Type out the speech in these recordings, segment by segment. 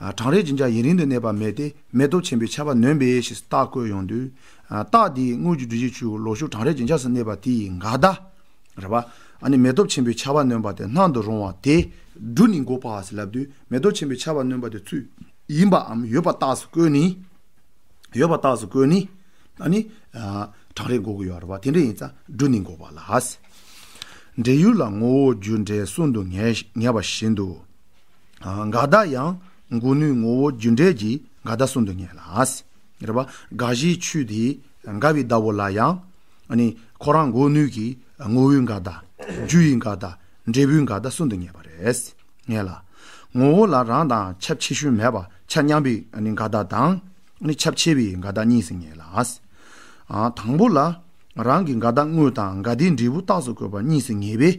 གྲང་རེག་སྦྱིན་བྱ་ཡུན་རིང་དུ་གནས་པ་མེད་དེ་མེ་ཏོག་ཆེན་པོའི་ཆར་པ་ནོན་པས་ཞེས་རྟགས་བཀོད་ཡོང་དུས། རྟགས་དེའི་དངུལ་གྱི་འབྲུ་བཞི་ཆུ་བོ་ལོག་ཞུགས་གྲང་རེག་སྦྱིན་བྱ་སུ་གནས་པ་དེ་ཡི་འགའ་བདག། རེ་བ། ནི་མེ་ཏོག་ཆེན་པོའི་ཆར་པ་ནོན་པ་དེ་སྣང་དུ་རུང་བ་དེ། འབྲུ་ནི་མགོ་བར་སེ་ལབ་དུས་མེ་ཏོག་ཆེན་པོའི་ཆར་པ་ནོན་པ་དེ་ཚུལ་ཡིན་པའམ་ཡོད་པ་རྟགས་སུ་བཀོད་ནི། ཡོད་པ་རྟགས་སུ་བཀོད་ནི། ནི། གྲང་རེག་འགོག་གི་ཡོད་རེ་བ་དེ་འདྲ་ཡིན་ཙང་འབྲུ་ནི་མགོ་བར་ལ། འབྲས་ཡུལ་ལ་ངོ་བོ་རྒྱུ་འབྲས་གསུམ་དུ་ངེས་པ་བཞིན་དུ། འགའ་བདག་ཡང་མགུ་ནུས་ངོ་བོ་རྒྱུ་འབྲས་ཀྱི་འགའ་བདག་གསུམ་དུ་ངེས་ལ། རེ་བ་འགའ་བཞིའི་ཆུ་དེ་འགའ་བའི་བདག་པོ་ལ་ཡང། ཁོ་རང་མགུ་ནུས་ཀྱི་ངོ་བོའི་འགའ་བདག། རྒྱུ་ཡི་འགའ་བདག། འབྲས་བུའི་འགའ་བདག་གསུམ་དུ་ངེས་པ་རེད། ངེས་ལ། ངོ་བོ་ལ་རང་དང་ཁྱབ་ཆེ་ཤོས་མེད་པ་ཆ་མཉམ་པའི་འགའ་བདག་དང། ཁྱབ་ཆེ་བའི་འགའ་བདག་གཉིས་སུ་ངེས་ལ། དང་པོ་ལ། རང་གི་འགའ་བདག་དངོས་དང་འགའ་བདེའི་འབྲས་བུ་རྟགས་སུ་བཀོད་པ་གཉིས་སུ་ངེས་པས།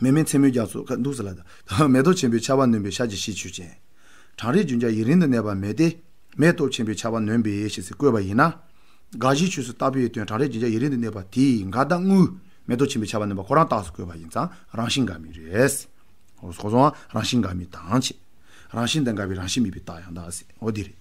མེ་མེད་མཚན་མོའི་རྒྱ་མཚོ་ཁ་འདུག་ཟེར་ལ། མེ་ཏོག་ཆེན་པོའི་ཆར་བ་ནོན་པའི་ཤར་གྱི་གཤིས་ཆོས་ཅན། གྲང་རེག་རྒྱུན་འཇགས་ཡིད་རིང་དུ་གནས་པ་མེད་དེ། མེ་ཏོག་ཆེན་པོའི་ཆར་བ་ནོན་པའི་ཞེས་ཚིག་བཀོད་པ་ཡིན་ན། དགག་གཞིའི་ཆོས་སུ་བཏགས་པའི་དོན་གྲང་རེག་རྒྱུན་འཇགས་ཡིད་རིང་དུ་གནས་པ་དེས་འགའ་ལྟ་ངུའི། མེ་ཏོག་ཆེན་པོའི་ཆར་བ་ནོན་པ་ཁོ་རང་རྟགས་སུ་བཀོད་པ་ཡིན་ཙང་རང་བཞིན་འགའ་མི་རེད། རང་བཞིན་འགའ་མི་དང་བཅས། རང་བཞིན་དང་འགའ་བའི་རང་བཞིན་མེད་པའི་རྟགས་ཡང་དག་སེའོ་དེ་རེད།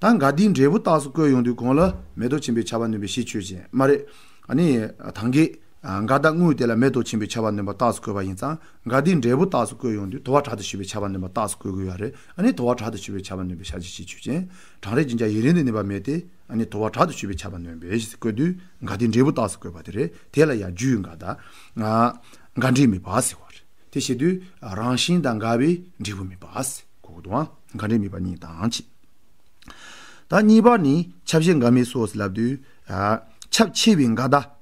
ད་འགའ་དེའི་འབྲས་བུ་རྟགས་སུ་བཀོད་ཡོང་དུས་གོང་ལ། མེ་ཏོག་ཆེན་པོའི་ཆར་བ་ནོན་པའི་གཤིས་ཆོས་ཅན་མ་རེད། ཨ་ནི། ད་འགའི། འགའ་ལྟ་དངོས་དེ་ལ་མེད་དོ་ཆེན་པོའི་ཆ་བ་འདོན་པ་རྟགས་སུ་བཀོད་པ་ཡིན་ཙང་འགའ་དེའི་འབྲས་བུ་རྟགས་སུ་བཀོད་ཡོང་དུས་དོ་བ་དྲག་ཏུ་ཞི་བའི་ཆ་བ་འདོན་པ་རྟགས་སུ་བཀོད་དགོས་ཡ་རེད་ཨ་ནི་དོ་བ་དྲག་ཏུ་ཞི་བའི་ཆ་བ་འདོན་པའི་ཤ་ཇི་ཞེས་ཆོས་ཅན། གྲང་རེག་ཅིང་ཀྱང་ཡིད་རིང་དུ་གནས་པ་མེད་དེ་ཨ་ནི་དོ་བ་དྲག་ཏུ་ཞི་བའི་ཆ་བ་འདོན་པས་ཞེས་བཀོད་དུས་འགའ་དེའི་འབྲས་བུ་རྟགས་སུ་བཀོད་པ་དེ་རེད་དེ་ལ་ཡང་རྒྱུའི་འགའ་ལྟ། འགའ་འབྲས་མེད་པ་ཟེར་བ་རེད་དེ་བཤད་དུས་རང་བཞིན་དང་འགའ་བའི་འབྲས་བུ་མེད་པ་ཟེར་གོ་གོ་དོ། འགའ་འབྲས་མེད་པ་གཉིས་དང་ཕྱེད། ད་གཉིས་པ་ནི་ཁྱབ་བྱེད་འགའ་མེད་སོགས་སུ་ལབ་དུས། ཁྱབ་ཆེ་བའི་འགའ་ལྟ།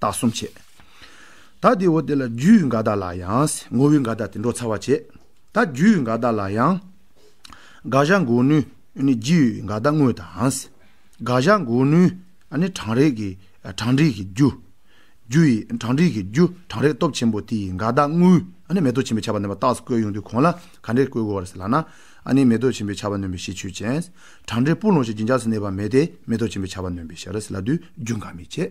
དག་གསུམ་བྱེད། ད་དེ་འོ་དེ་ལ་རྒྱུའི་འགའ་དག་ལ་ཡང། ངོ་བོའི་འགའ་དག་དེ་འགྲོ་ཚར་བར་བྱེད། ད་རྒྱུའི་འགའ་དག་ལ་ཡང། དགག་བྱ་འགོག་ནུས་ནི་རྒྱུའི་འགའ་དག་དངོས་དང། དགག་བྱ་འགོག་ནུས་ནི་གྲང་རེག་གི་གྲང་འགྲིག་གི་རྒྱུ། རྒྱུ་ཡི་གྲང་འགྲིག་གི་རྒྱུ་གྲང་རེག་སྟོབས་ཆེན་པོ་དེ་ཡི་འགའ་དག་དངོས་ནི་མེ་ཏོག་ཆེན་པོའི་བྱ་བ་ནོན་པ་རྟགས་སུ་བཀོད་ཡོང་དུས་གོང་ལ་ག་འདྲས་བཀོད་དགོས་པ་རེད་ལགས་ན། ནི་མེ་ཏོག་ཆེན་པོའི་བྱ་བ་ནོན་པའི་ཞེས་ཆོས་ཅན། གྲང་འབྲས་སྤུ་ལོང་ཞིག་སྦྱིན་འཇགས་སུ་གནས་པ་མེད་དེ་མེ་ཏོག་ཆེན་པོའི་བྱ་བ་ནོན་པའི་ཞེས་རེད་ལ་དུས་རྒྱུན་འགའ་མི་བྱེད།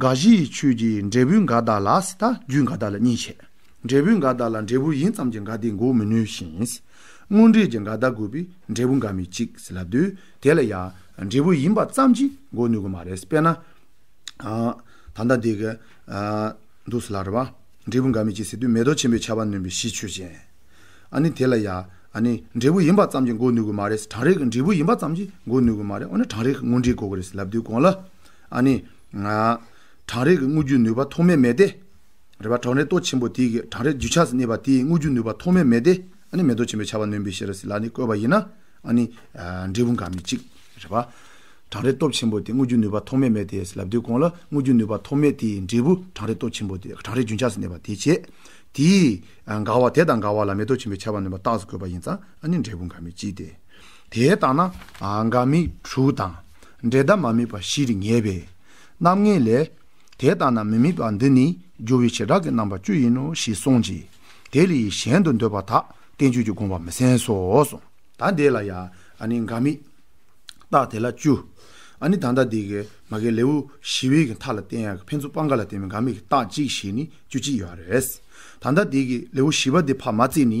དགའ་བཞིའི་ཆོས་ཀྱི་འབྲས་བུའི་དགའ་བདག་ལ་སྲིད་དང་རྒྱུའི་དགའ་བདག་ལ་གཉིས་བྱེད། འབྲས་བུའི་དགའ་བདག་ལ་འབྲས་བུ་ཡིན་ཙམ་གྱི་དགའ་བདེ་འགོག་མི་ནུས་ཤིང། དངོས་འབྲས་ཀྱི་དགའ་བདག་དགོས་པས་འབྲས་བུ་འགའ་མི་གཅིག་ཟེར་ལབ་དུས་དེ་ལ་ཡང་འབྲས་བུ་ཡིན་པ་ཙམ་གྱིས་འགོག་ནུས་གི་མ་རེད་དཔེར་ན། ད་ལྟ་འདི་གི། འདུག་ཟེར་ལ་རེ་བ། འབྲས་བུ་འགའ་མི་གཅིག་ཟེར་དུས་མེ་ཏོག་ཆེན་པོའི་ཆར་བ་ནོན་པའི་གཞི་ཆོས་ཅན། ཨ་ནི་དེ་ལ་ཡང། འབྲས་བུ་ཡིན་པ་ཙམ་གྱིས་འགོག་ནུས་གི་མ་རེད་གྲང་རེག་གི་འབྲས་བུ་ཡིན་པ་ཙམ་གྱིས་འགོག་ནུས་གི་མ་རེད་འོ་ན་གྲང་རེག་གི་དངོས་འབྲས་འགོག་གི་རེད་ཟེར་ལབ་དུས་གང་ལ། ཨ་ནི། གྲང་རེག་གི་དངོས་རྒྱུ་ནུས་པ་ཐོག་མའི་མེད་དེ། རེ་བ། གྲང་རེག་ཏོག་ཆེན་པོ་དེ་གིས་གྲང་རེག་རྒྱུ་ཆ་གནས་པ་དེའི་དངོས་རྒྱུ་ནུས་པ་ཐོག་མའི་མེད་དེ། ཨ་ནི་མེ་ཏོག་ཆེན་པོའི་བྱ་བ་ནོན་པའི་ཤེས་རབ་སྲིད་ལ་ནི་བཀོད་པ་ཡིན་ན། ཨ་ནི། འབྲས་བུ་འགའ་མི་གཅིག། རེ་བ། གྲང་རེག་སྟོབས་ཆེན་པོ་དེ་དངོས་རྒྱུ་ནུས་པ་ཐོག་མའི་མེད་དེ་སྲིད་ལ་བསྡུས་གོང་ལ་དངོས་རྒྱུ་ནུས་པ་ཐོག་མའི་དེའི་འབྲས་བུ་གྲང་རེག་སྟོབས་ཆེན་པོ་དེ་གྲང་རེག་རྒྱུན་ཆགས་སུ་གནས་པ་དེའི་བྱེད། དེའི། འགའ་བ་དེ་དང་འགའ་བ་ལ་མེ་ཏོག་ཆེན་པོའི་བྱ་བ་ནོན་པ་རྟགས་སུ་བཀོད་པ་ཡིན་ཙང་ཨ་ནི་འབྲས་བུ་འགའ་མི་གཅིག་སྟེ། དེ་ལྟ་ན་འགའ་དམིགས་དྲུག་དང། འབྲེལ་ཟླ་མ་དམིགས་པ་བཞིར་ངེས་པས། རྣམ་ངེས་ལས། དེ་ལྟ་ན་མི་དམིགས་པ་འདི་ནི་སྦྱོར་བའི་བྱེ་བྲག་གི་རྣམ་པ་བཅུ་ཡིན་ནོ་ཞེས་གསུངས་ཀྱི། དེ་ལས་གཞན་དུ་འདོད་པ་དག་བསྟན་བཅོས་ཀྱི་དགོངས་པ་མི་གསན་སོ། ད་འདས་ལ་ཡང་འགའ་དམིགས། རྟགས་དེ་ལ་བཅུ། ད་ལྟ་འདས་ཀྱི་མ་གའི་ལེའུ་བཞི་བའི་མཐའ་ལ་བསྟན་ཡང་ཕན་ཚུན་སྤང་འགའ་ལ་བརྟེན་པའི་འགའ་དམིགས་ཀྱི་རྟགས་གཅིག་ཞེས་ནི་བཅུ་གཅིག་ཡོད་རེད། ད་ལྟ་འདས་ཀྱི་ལེའུ་བཞི་བ་འདི་བར་མ་བརྩིས་ནི།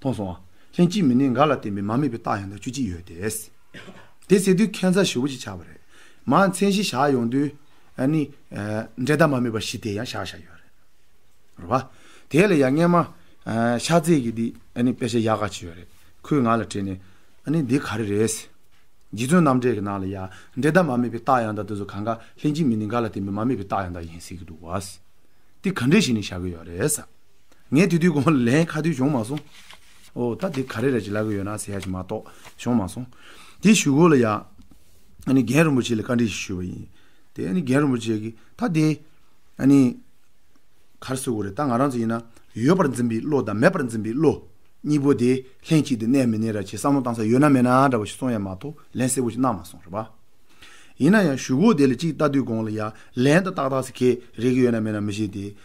མཐོང་སོང། ལྷན་སྐྱེས་མི་ནི་འགའ་ལ་བརྟེན་པའི་མ་དམིགས་པའི་རྟགས་ཡང་དག་བཅུ་གཅིག་ཡོད་དེ། དེ་ཚེ་དུས་ཁྱད་མཚར་བཞི་བོ་གཅིག་ཆགས་པ་རེད། མ་མཚན་གཞི་བཞག་ཡོང་དུས། ནི། འབྲས་རྟགས་མ་དམིགས་པ་བཞི་དེ་ཡང་བཞག་བཞག་ཡོད་རེད། རེད་བ། དེ་ལ་ཡང་སྔས་མ། ཤ་ཚིག་གི་འདི། དཔེ་ཆ་ཡག་ག་ཅིག་ཡོད་རེད། ཁོས་ང་ལ་དྲིས་ནས། ནི་འདི་ག་རེ་རེད། རྗེ་བཙུན་རྣམ་འགྲེལ་གྱི་ནང་ལ་ཡང། འབྲས་རྟགས་མ་དམིགས་པའི་རྟགས་ཡང་དག་དེ་ཚོ་གང་གཱ། ལྷན་སྐྱེས་མི་ནི་འགའ་ལ་བརྟེན་པའི་མ་དམིགས་པའི་རྟགས་ཡང་དག་ཡིན་ཟེར་གྱི་འདུག་བ། དེ་ག་འདྲས་ཞིག་ནི་བཞག་གི་ཡོད་རེད། ངས་དེ་དུས་གོང་ལན་ཁ་དུས་བྱུང་མ་སོང། ཨོ་ད་དེ་ག་རེ་རེད་ཅེས་ལབ་ཀྱི་ཡོད་ན་ཟེར་ཡག་ཅིག་མ་གཏོགས་བྱུང་མ་སོང། དེ་ཞུ་སྒོ་ལ་ཡང་ཨ་ནི་རྒན་རིན་པོ་ཆེ་ལ་བཀའ་འདྲི་ཞིག་ཞུས་པ་ཡིན། དེ་ཨ་ནི་རྒན་རིན་པོ་ཆེ་གིས་ད་དེ་ཨ་ནི། གར་སོས་དགོས་རེད་ད་ང་རང་ཚོ་ཡིན་ན་ཡོད་པར་འཛིན་པའི་བློ་དང་མེད་པར་འཛིན་པའི་བློ། གཉིས་པོ་དེ་ལྷན་ཅིག་ཏུ་གནས་མི་གནས་ར་ཅེས་བསམ་བློ་བཏང་ས་ཡོད་ན་མེད་ན་འདྲ་བོ་ཞིག་སོང་ཡ་མ་གཏོགས་ལན་གསལ་བོ་ཞིག་གནང་མ་སོང་རེད་པ། ཡིན་ན་ཡང་ཞུ་སྒོ་དེ་ལ་ཅིག་ལྟ་དུས་གོང་ལ་ཡང་ལན་ད་ཏག་ཏག་ཟེར་མཁན་རེག་གི་ཡོད་ན་མེད་ན་མི་ཤེས་ཏེ།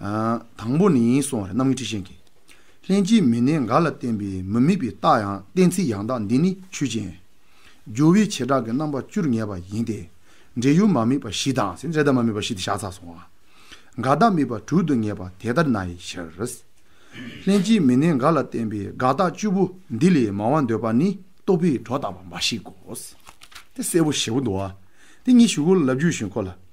དང་པོ་ནི་གསུང་བ་རེ་རྣམ་ངེས་འཁྲི་ཤིང་གི། ལྷན་སྐྱེས་མི་གནས་འགའ་ལ་བརྟེན་པའི་མི་དམིགས་པའི་རྟགས་ཡང་གཏན་ཚིགས་ཡང་དག་འདི་ནི་ཆོས་ཅན། སྦྱོར་བའི་བྱེ་བྲག་གི་རྣམ་པ་བཅུར་ངེས་པ་ཡིན་ཏེ། འབྲེལ་ཡུལ་མ་དམིགས་པ་བཞི་དང། འབྲེལ་བདག་མ་དམིགས་པ་བཞི་སྟེ་བྱ་ཚ་གསུང་བ། དགག་བདག་དམིགས་པ་དྲུག་ཏུ་ངེས་པ་དེ་ལྟར་ན་ཡི་ཕྱིར། ལྷན་སྐྱེས་མི་གནས་འགའ་ལ་བརྟེན་པའི་དགག་བདག་བཅུ་པོ་འདི་ལས་མང་བར་འདོད་པ་ནི་རྟོག་པས་སྒྲོ་བཏགས་པ་འབའ་ཞིག་གོ། དེ་གསལ་བོ་ཞེ་བོ་འདུག་བ། དེ་ཉིད་ཞུ་སྒོ་ལ་ལབ་རྒྱུ་བཞིན་ཁོ་ལ།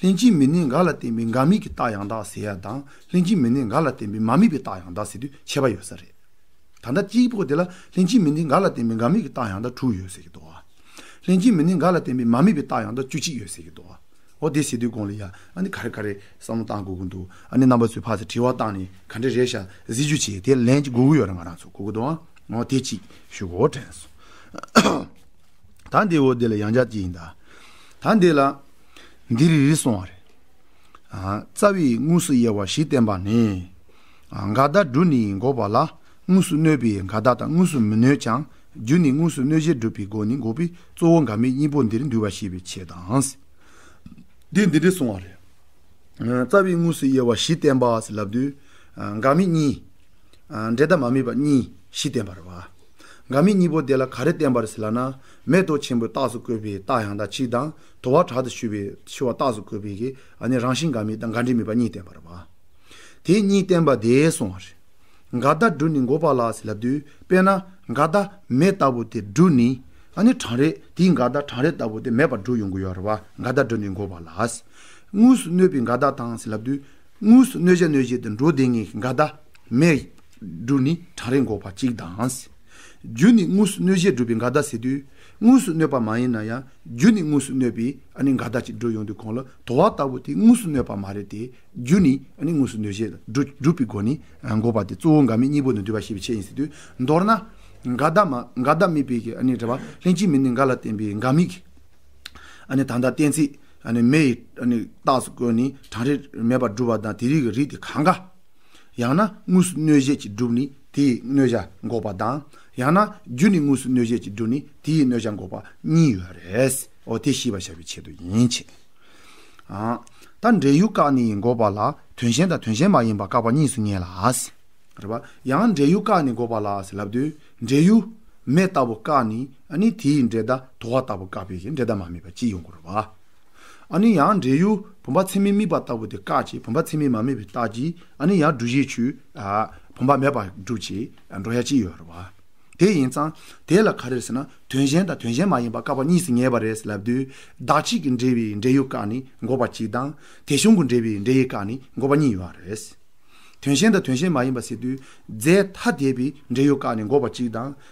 ལྷན་སྐྱེས་མི་གནས་འགའ་ལ་བརྟེན་པའི་འགའ་མེད་ཀྱི་རྟགས་ཡང་དག་ཟེར་ཡ་དང་ལྷན་སྐྱེས་མི་གནས་འགའ་ལ་བརྟེན་པའི་མ་མེད་པའི་རྟགས་ཡང་དག་ཟེར་དུས་ཁྱད་པ་ཡོད་ས་རེད། ད་ལྟ་སྐྱེས་བུ་དེ་ལ་ལྷན་སྐྱེས་མི་གནས་འགའ་ལ་བརྟེན་པའི་འགའ་མེད་ཀྱི་རྟགས་ཡང་དག་དྲུག་ཡོད་ཟེར་གྱི་འདུག་ཨ། ལྷན་སྐྱེས་མི་གནས་འགའ་ལ་བརྟེན་པའི་མ་མེད་པའི་རྟགས་ཡང་དག་བཅུ་གཅིག་ཡོད་ཟེར་གྱི་འདུག་ཨོ། དེ་ཟེར་དུས་དགོངས་ལ་ཡ། ཨ་ནི་ག་རེ་ག་རེ་བསམ་བློ་གཏང་དགོས་ཀྱི་འདུག་ཨ་ནི་རྣམ་པ་ཚོས་ཕར་ཚད་དྲི་བ་བཏང་ནས་ག་འདྲ་རེད་ཤག་གཟིགས་རྒྱུ་བྱས་དེ་ལན་གྱི་དགོས་ཀྱི་ཡོད་རེད་ང་རང་ཚོ་གོ་གི་འདུག་ཨོ་དེ་གཅིག་ཞུ་གོ་དྲན་སོང། ད་འདི་འོ་དེ་ལ་ཡང་བརྒྱ་བསྐྱེད་ཡིན་ད། ད་འདི་ལ། འདི་རི་རི་སོང་བ་རེད། རྩ་བའི་དངོས་སུ་དབྱེ་བ་བཞི་བསྟན་པ་ནི། འགའ་བདག་སྒྲུབ་ནི་འགོག་པ་ལ་དངོས་སུ་གནོད་པས་འགའ་བདག་དང་དངོས་སུ་མི་གནོད་ཀྱང་རྒྱུ་ནི་དངོས་སུ་གནོད་བྱེད་སྒྲུབ་པའི་སྒོ་ནི་འགོག་པས་གཙོ་བོ་འགའ་མེད་གཉིས་པོ་འདིར་འདུས་པ་ཤེས་པའི་ཆེད་དང། འདི་འདི་རི་སོང་བ་རེད། རྩ་བའི་དངོས་སུ་དབྱེ་བ་བཞི་བསྟན་པ་ལབ་དུས། འགའ་མེད་གཉིས། འབྲས་དང་མ་མེད་པ་གཉིས་བཞི་བསྟན་པར། འགའ་མེད་གཉིས་པོ་དེ་ལ་ག་རེ་བསྟན་པར་ལགས་ན། མེ་ཏོག་ཆེན་པོའི་རྟགས་སུ་བཀོད་པའི་རྟགས་ཡང་དག་གཅིག་དང། དོ་བ་དྲག་ཏུ་ཞུ་བའི་ཆུ་བ་རྟགས་སུ་གོ་བས་ཀྱི་ཨ་ནི་རང་བཞིན་འགའ་མེད་དང་འགའ་འབྲས་མེད་པ་གཉིས་བསྟན་པ་རེད། དེ་གཉིས་བསྟན་པ་འདས་སོང་བ་རེད། འགའ་བདག་སྦྲུལ་ནི་མགོ་པ་ལ་ཟེར་ལབ་དུས་དཔེར་ན་འགའ་བདག་མེད་ལྟ་བུ་དེ་སྦྲུལ་ནི་ཨ་ནི་གྲང་རེད་དེའི་འགའ་བདག་གྲང་རེད་ལྟ་བུ་དེ་མེད་པར་སྦྲུལ་ཡོང་གི་ཡོད་རེད་བ་འགའ་བདག་སྦྲུལ་ནི་མགོ་པ་ལ་དངོས་སུ་གནོད་པའི་འགའ་བདག་དང་ཟེར་ལབ་དུས་དངོས་སུ་གནོད་བྱ་གནོད་བྱེད་དུ་འགྲོ་བདེ་ངེས་ཀྱི་འགའ་བདག་མེད་སྦྲུལ་ནི་གྲང་རེད་མགོ་པ་གཅིག་དང། རྒྱུ་ནི་དངོས་སུ་གནོད་བྱེད་སྦྲུལ་པའི་འགའ་བདག་ཟེར་དུས་དངོས་སུ་གནོད་པ་མ་ཡིན་ན་ཡང་རྒྱུ་ནི་དངོས་སུ་གནོད་པས་ནི་འགའ་ལྟ་ཅི་འགྲོ་ཡོང་དུས་གང་ལ་དོ་བ་ལྟ་བུ་དེ་དངོས་སུ་གནོད་པ་མ་རེད་དེ། རྒྱུ་ནི་དངོས་སུ་གནོད་བྱེད་དང་འགྲོ་སྒྲུབ་པའི་སྒོ་ནས་འགོག་པ་དེ་གཙོ་བོ་འགའ་མི་གཉིས་པོ་ནི་འདུས་པ་ཞེས་པའི་ཆེད་ཡིན་སྲིད་དུས་མདོར་ན། འགའ་བདག་མ་འགའ་བདག་མེད་པའི་ནི་འགྲེལ་པ་ལྷན་སྐྱེས་མེད་ནི་འགའ་ལ་བརྟེན་པའི་འགའ་མི་གཉིས། དང་ལྟ་གཏན་ཚིགས་མེད་ཡི་དྭགས་སུ་བཀོད་ནས་གྲངས་རིག་མེད་པར་སྒྲུབ་པ་དང་དེ་རིགས་ཀྱི་རིགས་དེ་གང་གཱ། ཡང་ན་དངོས་སུ་གནོད་བྱེད་ཀྱི་སྒྲུབ་ནི་དེའི་གནོད་བྱ་འགོག་པ་དང། ཡང་ན་རྒྱུ་ནི་དངོས་སུ་གནོད་བྱེད་ཀྱི་སྒྲུབ་ནི་དེའི་གནོད་བྱ་འགོག་པ་གཉིས་ཡོད་རེད། འོ་དེ་ཤེས་པར་བྱ་བའི་ཆེད་དུ་ཡིན་གྱི། ད་འབྲེལ་ཡུལ་བཀག་ནི་འགོག་པ་ལ་དོན་གཞན་དང་དོན་གཞན་མ་ཡིན་པ་བཀག་པ་གཉིས་སུ་ངེས་ལ། རེད་པ། ཡང་འབྲེལ་ཡུལ་བཀག་ནི་འགོག་པ་ལ་ལབ་དུས་འབྲེལ་ཡུལ། མེ་ལྟ་བུ་བཀག་ནི་དེའི་འབྲེལ་ཟླ་དོ་བ་ལྟ་བུ་བཀག་པས་འབྲེལ་ཟླ་མ་མེད་པ་གཅིག་ཡོང་དགོས་རེད་པ། ཨ་ནི་ཡང་འབྲས་ཡུལ་བུམ་པ་ཚད་མི་དམིགས་པ་ལྟ་བུ་དེ་བཀག་ཅིག་བུམ་པ་ཚད་མི་མ་དམིགས་པའི་རྟགས་ཀྱིས་ཨ་ནི་ཡང་འབྲུ་བཞིའི་ཆུས་བུམ་པ་མེད་པར་སྒྲུབ་ཅིག་འགྲོ་ཡ་ཅི་ཡོད་རེད་བ། དེ་ཡིན་ཙང་དེ་ལ་ག་རེ་ཟེར་ན་དོན་གཞན་དང་དོན་གཞན་མ་ཡིན་པ་བཀག་པ་གཉིས་སུ་ངེས་པ་རེད་ལབ་དུས་བདག་གཅིག་གི་འབྲེལ་བའི་འབྲས་ཡུལ་བཀག་ནི་འགོག་པ་གཅིག་དང་དེ་གཞུང་གི་འབྲེལ་བའི་འབྲས་ཡུལ་བཀག་ནི་འགོག་པ་གཉིས་ཡོད་རེད། དོན་གཞན་དང་དོན་གཞན་མ་ཡིན་པ་ཟེར་དུས་རྫས་ཐ་དད་པའི་འབྲས་ཡུལ་བཀག་ནི་འགོག་པ་གཅིག་དང་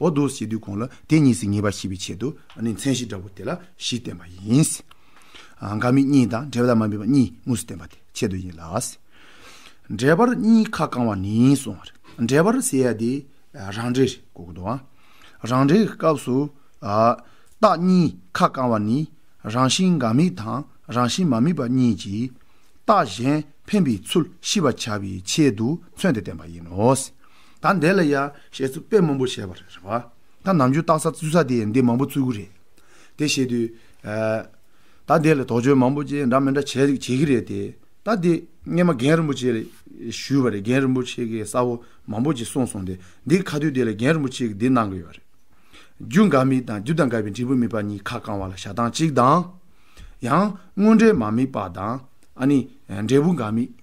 འོ་དོ་ཞེས་དུས་གོང་ལ་དེ་གཉིས་སུ་ངེས་པར་ཤེས་པའི་ཆེད་དུ། ནི་མཚན་གཞི་འདྲ་བོ་དེ་ལ་གཞི་བསྟན་པ་ཡིན། འགའ་མི་གཉིས་དང་འབྲེལ་པ་དང་མ་འབྲེལ་པ་གཉིས་དངོས་སུ་བསྟན་པ་དེ་ཆེད་དུ་ཡིན་ལ། འབྲེལ་པར་གཉིས་ཁ་བསྐང་བ་ནི་སོང་བ་རེད། འབྲེལ་པར་ཟེར་ཡ་དེ་རང་འབྲེལ་རེད་གོ་གི་འདུག་ཨང། རང་འབྲེལ་གྱི་སྐབས་སུ། རྟགས་གཉིས་ཁ་བསྐང་བ་ནི་རང་བཞིན་འགའ་དམིགས་དང་རང་བཞིན་མ་དམིགས་པ་གཉིས་ཀྱིས། རྟགས་གཞན་འཕེན་པའི་ཚུལ་ཤེས་པར་བྱ་བའི་ཆེད་དུ་མཚོན་ཏེ་བསྟན་པ་ཡིན་ནོ། ད་འདས་ལ་ཡ། ཞེས་ཚུར་དཔེ་མང་པོ་བྱས་པ་རེད། རེད་པ། ད་ནམ་རྒྱུན་བརྟག་ས་བཙུད་ས་དེ་འདི་མང་པོ་བཙུད་གི་རེད། དེ་བྱེད་དུས། ད་འདས་ལ་དོགས་གཅོད་མང་པོ་བཅས་འདྲ་མི་འདྲ་བྱེད་ཀྱི་རེད་དེ། ད་འདི་སྔས་མ་རྒན་རིན་པོ་ཆེ་ལ་ཞུས་པ་རེད་རྒན་རིན་པོ་ཆེ་གིས་གསལ་བོ་མང་པོ་ཅིག་གསུངས་སོང་དེ་འདི་ཁ་དུས་དེ་ལ་རྒན་རིན་པོ་ཆེ་གིས་འདི་གནང་གི་ཡོད་རེད། རྒྱུ་འགའ་མིག་དང་རྒྱུ་དང་འགའ་བའི་འབྲས་བུ་མིག་པ་གཉིས་ཁ་བསྐང་བ་ལ་བྱ་སྟངས་གཅིག་དང། ཡང། དངོས་འབྲས་མ་མིག་པ་དང། ཨ་ནི། འབྲས་བུ་འགའ་མིག།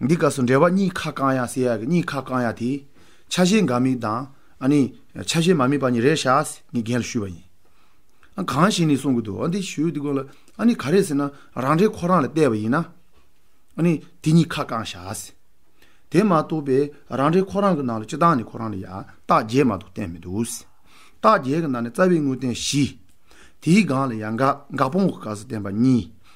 འདི་སྐབས་སུ་འགྲེལ་པ་གཉིས་ཁ་བསྐང་ཡ་ཟེར་ཡ་གི་གཉིས་ཁ་བསྐང་ཡ་དེས་ཆ་ཤས་འགའ་དམིགས་དང་ཨ་ནི་ཆ་ཤས་མ་དམིགས་པ་གཉིས་རེད་ཤག་ངས་རྒན་ལ་ཞུས་པ་ཡིན། ཨ་གང་ཞིག་ནས་གསུང་གི་འདུག་ཨ་འདི་ཞུས་འདི་དགོས་ལ་ཨ་ནི་ག་རེ་ཟེར་ན་རང་འགྲེལ་ཁོ་རང་ལ་བལྟས་པ་ཡིན་ན་ཨ་ནི་དེ་གཉིས་ཁ་བསྐང་ཤག་ཟེར། དེ་མ་གཏོགས་པའི་རང་འགྲེལ་ཁོ་རང་གི་ནང་ལ་སྤྱི་བཏང་ནས་ཁོ་རང་ལ་ཡ་རྟགས་བརྒྱད་མ་གཏོགས་བསྟན་མི་འདུག་ཟེར། རྟགས་བརྒྱད་ཀྱི་ནང་ནས་རྩ་བའི་དངོས་བསྟན་བཞི། དེའི་སྒང་ལ་ཡ་འགག་འགག་སྤོང་གི་སྐབས་སུ་བསྟན་པ་གཉིས།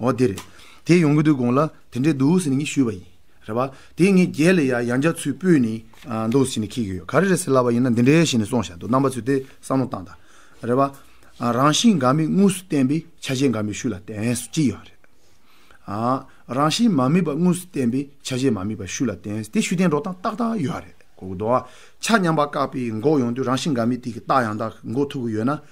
འོ་དེ་རེད། དེ་ཡོང་གི་འདུག་དགོངས་ལ་དེ་འདྲའི་འདུག་ཟེར་ནས་ངས་ཞུས་པ་ཡིན། རེད་པ། དེས་ངས་རྒྱལ་ལ་ཡ་ཡང་འཇགས་ཚུལ་སྤོས་ནས། འདུག་ཟེར་ནས་ཁེལ་གྱི་ཡོད་ག་རེ་རེད་ཟེར་ལབ་པ་ཡིན་ན་འདི་འདྲའི་བྱས་ནས་སོང་ཞག་འདུག་རྣམ་པ་ཚོས་དེ་བསམ་བློ་བཏང་དང། རེད་པ། རང་བཞིན་འགའ་མི་དངོས་སུ་བསྟན་པའི་ཆ་ཤས་འགའ་མི་ཤུགས་ལ་བརྟེན་ཟེར་གྱི་ཡོད་རེད། རང་བཞིན་མ་དམིགས་པ་དངོས་སུ་བསྟན་པའི་ཆ་ཤས་མ་དམིགས་པ་ཤུགས་ལ་བརྟེན་ཟེར་དེ་ཤུགས་བསྟན་འགྲོ་སྟངས་ཏག་ཏག་ཡོད་རེད་གོ། འགྲོ་བ་ཆ་མཉམ་པ་བཀག་པའི་འགོག་ཡོང་དུས་རང་བཞིན་འགའ་མི་དེ་གི་རྟགས་ཡང་དག་འགོག་ཐུབ་ཀྱི་ཡོད་ན།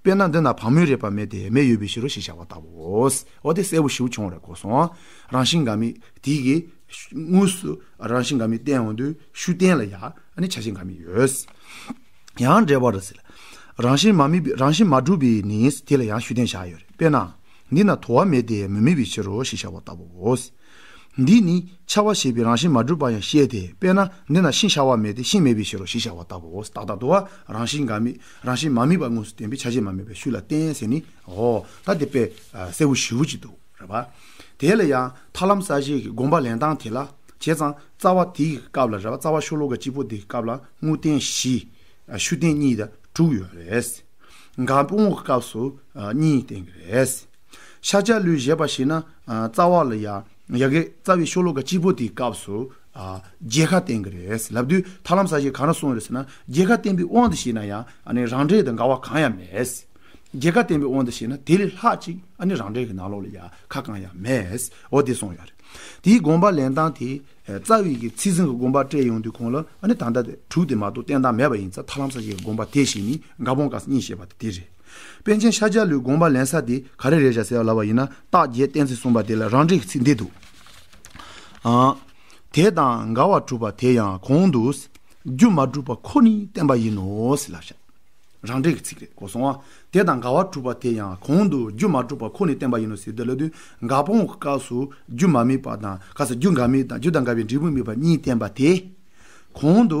དཔེར་ན་འདི་ན་བག་མོས་རེད་པ་མེད་དེ་མེ་ཡོད་པའི་ཕྱིར་རོ་ཞེས་བྱ་བ་ལྟ་བུའོ། འོ་དེ་གསལ་བོ་ཞིག་བྱུང་བ་རེད་གོ་སོང། རང་བཞིན་འགའ་མེད་དེ་གི། དངོས་སུ་རང་བཞིན་འགའ་མེད་བསྟན་འོང་དུས་ཤུ་བསྟན་ལ་ཡང་བྱ་བྱེད་འགའ་མེད་ཡོད། ཡང་འབྲེལ་བ་རུ་ཟེར། རང་བཞིན་མ་མེད་རང་བཞིན་མ་གྲུབ་པས་ནི་དེ་ལ་ཡང་ཤུ་བསྟན་བྱ་ཡོད། དཔེར་ན། འདི་ན་དོ་བ་མེད་དེ་མི་མེད་པའི་ཕྱིར་རོ་ཞེས་བྱ་བ་ལྟ་བུའོ། འདིས་ནི་འཆར་བ་ཞེས་པའི་རང་བཞིན་མ་གྲུབ་པ་ཡང་བཤད་དེ་དཔེར་ན་འདི་ན་ཤིང་ཤ་བ་མེད་དེ་ཤིང་མེད་པའི་ཕྱིར་རོ་ཞེས་བྱ་བ་ལྟ་བུའོ། རྟག་ཏུ་བ་རང་བཞིན་འགའ་མེད་རང་བཞིན་མ་དམིགས་པ་དངོས་སུ་བསྟན་པའི་ཆ་བྱད་མ་མེད་པའི་ཤུགས་ལ་བསྟན་ཟེར་ནི་འོ། ད་དེ་དཔེ་གསལ་བོ་ཞིབ་བོ་ཅིག་ཏུ་རེ་བ། དེ་ལ་ཡང་ཐར་ལམ་གསར་བཞེངས་ཀྱི་དགོངས་པ་ལེན་སྟངས་དེ་ལ་བྱས་ཙང་རྩ་བ་དེའི་སྐབས་ལ་རེ་བ་རྩ་བ་ཤོ་ལོ་ཀ་གཅིག་པོ་དེའི་སྐབས་ལ་དངོས་བསྟན་བཞི། ཤུགས་བསྟན་གཉིས་དང་དྲུག་ཡོད་རེད། འགའ་དཔུང་བོ་སྐབས་སུ་གཉིས་བསྟན་གྱི་རེད། ཤ་ལྕགས་གླུའི་བཞད་པ་ཞིག་ན་རྩ་བ་ལ་ཡ་གི་རྩ་བའི་ཤོ་ལོ་ཀ་སྤྱི་བོ་དེའི་སྐབས་སུ་རྒྱལ་ཁ་བསྟན་གི་རེད་ལབ་དུས་ཐར་ལམ་ས་ཞིག་གང་ན་སོང་ཡོད་རེད་ཟེར་ན་རྒྱལ་ཁ་བསྟན་པའི་དབང་དུ་བྱས་ན་ཡང་རང་འདྲའི་དགའ་བ་གང་ཡང་མེད་རྒྱལ་ཁ་བསྟན་པའི་དབང་དུ་བྱས་ན་དེ་ལས་ལྷག་ཅིག་རང་འདྲའི་གི་ནང་ལོགས་ལ་ཡ་ཁ་གང་ཡང་མེད་འོ་དེ་སོང་ཡོད་རེད་དེའི་དགོངས་པ་ལེན་སྟངས་དེ་རྩ་བའི་གི་ཚིག་ཟིན་གི་དགོངས་པ་སྤྲད་ཡོང་དུས་ཁོང་ལ་ད་ལྟ་དྲུག་དེ་མ་གཏོགས་བསྟན་སྟངས་མེད་པ་ཡིན་ཚ་ཐར་ལམ་ས་ཞིག་གི་དགོངས་པ་དེ་བཞིན་ནི་དགའ་བོང་དཀར་ས་གཉིས་ཞེས་པ་དེ་རེད། པཎ་ཆེན་ཤཱཀྱ་ལོའི་དགོངས་པ་ལན་ས་དེ་ག་རེ་རེད་བྱ་ཟེར་བ་ལབ་པ་ཡིན་ན་རྟགས་བརྒྱད་བསྟན་ཚུལ་གསུངས་པ་དེ་ལ་རང་འགྲིག་གི་ཚིག་འདི་འདུག་ཨང། དེ་དང་འགལ་བ་གྲུབ་པ་དེ་ཡང་གོང་དུ། རྒྱུ་མ་གྲུབ་པ་ཁོ་ནི་བསྟན་པ་ཡིན་ནོ་ཟེར་ལབ་བྱ། རང་འགྲིག་གི་ཚིག་རེད་གོ་སོང་ཨང། དེ་དང་འགལ་བ་གྲུབ་པ་དེ་ཡང་གོང་དུ་རྒྱུ་མ་གྲུབ་པ་ཁོ་ནི་བསྟན་པ་ཡིན་ནོ་ཟེར་དེ་ལ་དུས་འགའ་སྤོང་བའི་སྐབས་སུ་རྒྱུ་མ་དམིགས་པ་དང་སྐབས་སུ་རྒྱུ་འགའ་དམིགས་དང་རྒྱུ་དང་འགལ་བའི་འབྲས་བུ་དམིགས་པ་གཉིས་བསྟན་པ་དེ། གོང་དུ།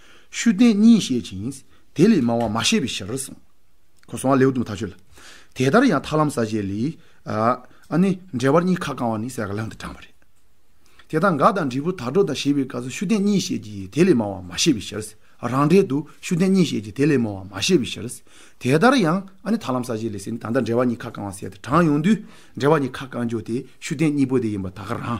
ཤུལ་བསྟན་གཉིས་བཤད་ཅིང། དེ་ལས་མང་བ་མ་བཤད་པའི་ཕྱིར་གསུངས། གོ་སོང་བ་ལེའུ་དུ་མ་དག་ཆོད་ལ། དེ་ལྟར་ཡང་ཐར་ལམ་ས་བཅད་ལས། ཨ་ནི་འགྲེལ་བར་གཉིས་ཁ་བསྐང་བ་ནི་གསལ་ཁ་བླངས་ཏེ་དྲངས་པ་རེད། དེ་དག་འགའ་དང་འབྲས་བུ་དག་འགྲོ་དང་ཞེས་པའི་སྐབས་སུ་ཤུལ་བསྟན་གཉིས་བཤད་ཀྱི་དེ་ལས་མང་བ་མ་བཤད་པའི་ཕྱིར། རང་འགྲེལ་དུ་ཤུལ་བསྟན་གཉིས་བཤད་ཀྱི་དེ་ལས་མང་བ་མ་བཤད་པའི་ཕྱིར། དེ་ལྟར་ཡང་ཨ་ནི་ཐར་ལམ་ས་བཅད་ལས་ཟེར་ནི་ད་ལྟ་འགྲེལ་བར་གཉིས་ཁ་བསྐང་བ་གསལ་ཏེ་དྲངས་ཡོང་དུས་འགྲེལ་བར་གཉིས་ཁ་བསྐང་རྒྱུ་དེ་ཤུལ་བསྟན་གཉིས་པོ་དེ་ཡིན་པ་དག་གི་རང་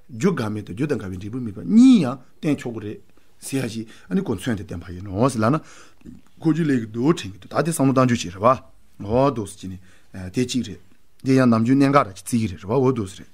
རྒྱུ་འགའ་མེད་དོ་རྒྱུ་དང་འགའ་བའི་འབྲས་བུ་མེད་པ་གཉིས་ཡང་བསྟན་ཆོག་གོ་རེད། ཟེར་ཡ་ཞིག་ཨ་ནི་གོ་མཚོན་དེ་བསྟན་པ་ཡིན་ནོ་ཟེར་ལགས་ན། ཁོ་རྒྱུ་ལས་ཀྱི་དུག་དྲན་གྱི་འདུག་ད་དེ་བསམ་བློ་གཏང་རྒྱུ་ཞིག་རེད་བ། འོ་དོགས་ཟེར་གྱི་ནི་དེ་གཅིག་རེད། དེ་ཡང་ནམ་རྒྱུན་གནད་འགག་རེད་ཅེས་བརྩི་གི་རེད་བ་འོ་དོགས་ཟེར་རེད།